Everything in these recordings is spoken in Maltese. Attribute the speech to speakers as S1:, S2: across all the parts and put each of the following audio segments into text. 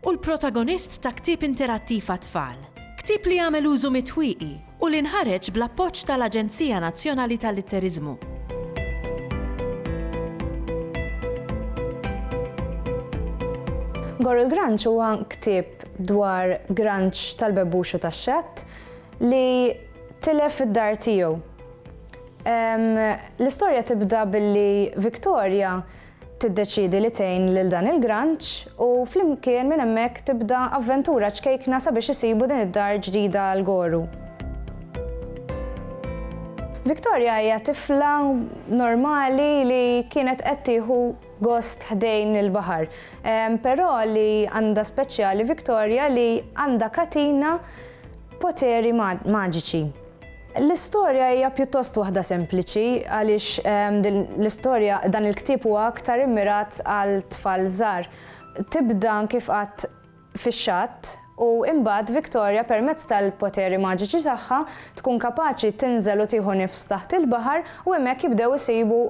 S1: u l-protagonist ta' ktieb interattiv għat-tfal, ktieb li għamel użu mit-twieqi u li nħareġ bl-appoġġ tal-Aġenzija Nazzjonali tal-Litteriżmu.
S2: Gorr il-Granċ huwa ktieb dwar Granċ tal-Bebbux u tax-Xatt li tilef id-dar tiegħu. L-istorja tibda billi Victoria Tiddeċiedi li tgħin lil dan il-granċ u flimkien minn hemmhekk tibda avventura ċkejkna sabiex isibu din id-dar ġdida għal Goru. Victoria hija tifla normali li kienet qed tieħu gost ħdejn il-baħar. Però li għandha speċjali Victoria li għandha katina poteri maġiċi. L-istorja hija pjuttost waħda sempliċi għaliex l-istorja dan il-ktieb huwa aktar immirat għal tfal żgħar. Tibda kif qatt fix-xatt u imbagħad Victoria permezz tal-poteri maġiċi tagħha tkun kapaċi tinżel u tieħu nifs taħt il-baħar u hemmhekk jibdew isibu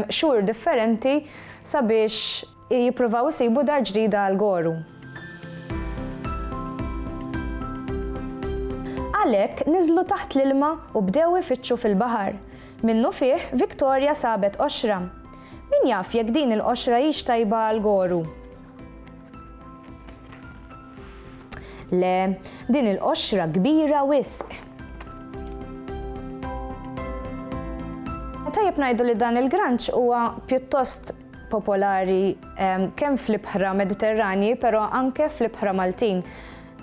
S2: xhur differenti sabiex Jippruvaw isibu dar ġdida għal Goru. Għalhekk niżlu taħt l-ilma u bdew ifittxu fil-baħar. Minnufih, Victoria sabet qoxra. Min jaf jekk din il-qoxra hix tajba għal Goru? Le, din il-qoxra kbira wisq. Tajjeb ngħidu li dan il-granċ huwa pjuttost popolari kemm fl-ibħra Mediterranji, però anke fl-ibħra Maltin.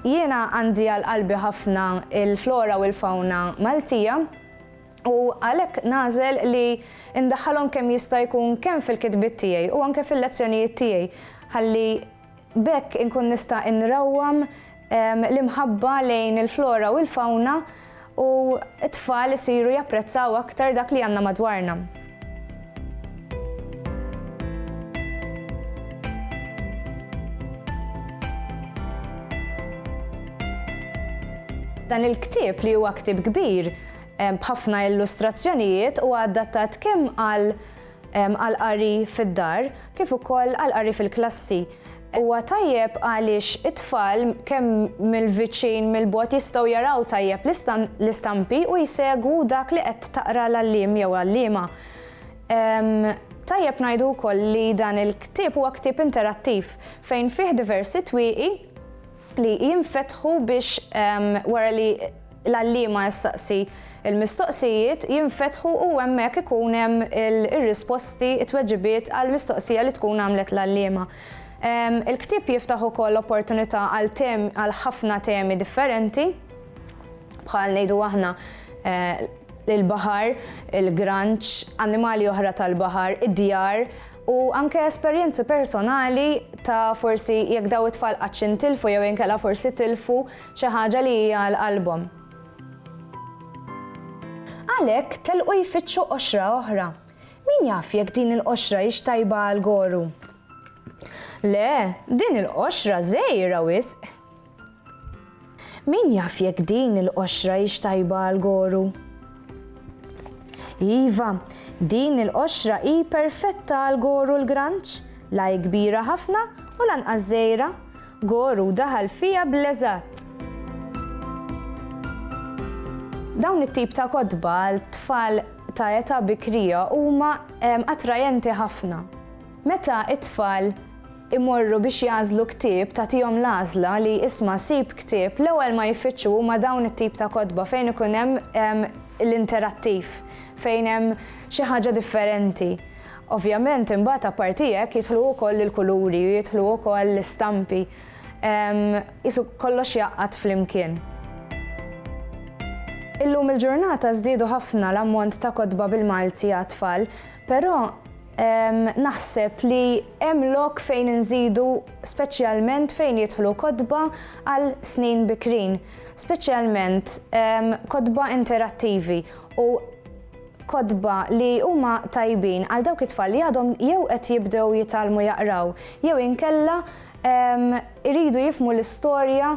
S2: Jiena għandi għal qalbi ħafna il-flora u l-fawna Maltija u għalhekk nażel li ndaħħalhom kemm jista' jkun kemm fil-kitbiet tiegħi u anke fil-lezzjonijiet tiegħi ħalli B'hekk inkun nista' inrawwam l-imħabba lejn il-flora u l-fawna u t-tfal isiru japprezzaw aktar dak li għandna madwarna. Dan il-ktieb li huwa ktieb kbir b'ħafna illustrazzjonijiet huwa adattat kemm għal għall-qari fid-dar kif ukoll għall-qari fil-klassi. Huwa tajjeb għaliex it-tfal kemm mill-viċin mill-bogħod jistgħu jaraw tajjeb l-istampi u jsegwu dak li qed taqra l-għalliem jew għalliema. Tajjeb ngħidu wkoll li dan il-ktieb huwa ktieb interattiv fejn fih diversi twieqi li jinfetħu biex wara li l-għalliema jistaqsi il-mistoqsijiet jinfetħu u hemmhekk ikun hemm ir-risposti, it-tweġibiet għal mistoqsija li tkun għamlet l-għalliema. Il-ktieb jiftaħ ukoll opportunità għal ħafna temi differenti bħal ngħidu aħna eh, il-baħar, il-granċ, annimali oħra tal-baħar, id-djar, U anke esperjenzi personali ta' forsi jekk daw it-tfal qattx intilfu jew inkella forsi tilfu xi ħaġa li hija għal qalbhom. Għalhekk telqu jfittxu qoxra oħra. Min jaf jekk din il-qoxra hix tajba għal Goru? Le, din il-qoxra żgħira wisq! Min jaf jekk din il-qoxra hix tajba għal goru? Iva, din il-qoxra hi perfetta għal goru l-granċ, la hi kbira ħafna u lanqas żgħira. Goru daħal fiha bl-eżatt! Dawn it-tip ta' kotba għal tfal ta' età bikrija huma attrajenti ħafna. Meta t-tfal imorru biex jagħżlu ktieb tagħtihom l-għażla li isma' sib ktieb l-ewwel ma jiffittxu huma dawn it-tip ta' kotba fejn ikun hemm l-interattiv fejn hemm xi ħaġa differenti. Ovvjament imbagħad apparti hekk jidħlu wkoll il-kuluri u jidħlu wkoll l-istampi qisu kollox jgħaqqad flimkien. Illum il-ġurnata żdiedu ħafna l-ammont ta' kotba bil-Malti għat-tfal però Naħseb li hemm lok fejn inżidu speċjalment fejn jidħlu kotba għal snin bikrin, speċjalment kotba interattivi u kotba li huma tajbin għal dawk it-tfal li għadhom jew qed jibdew jitgħallmu jaqraw jew inkella jridu jifhmu l-istorja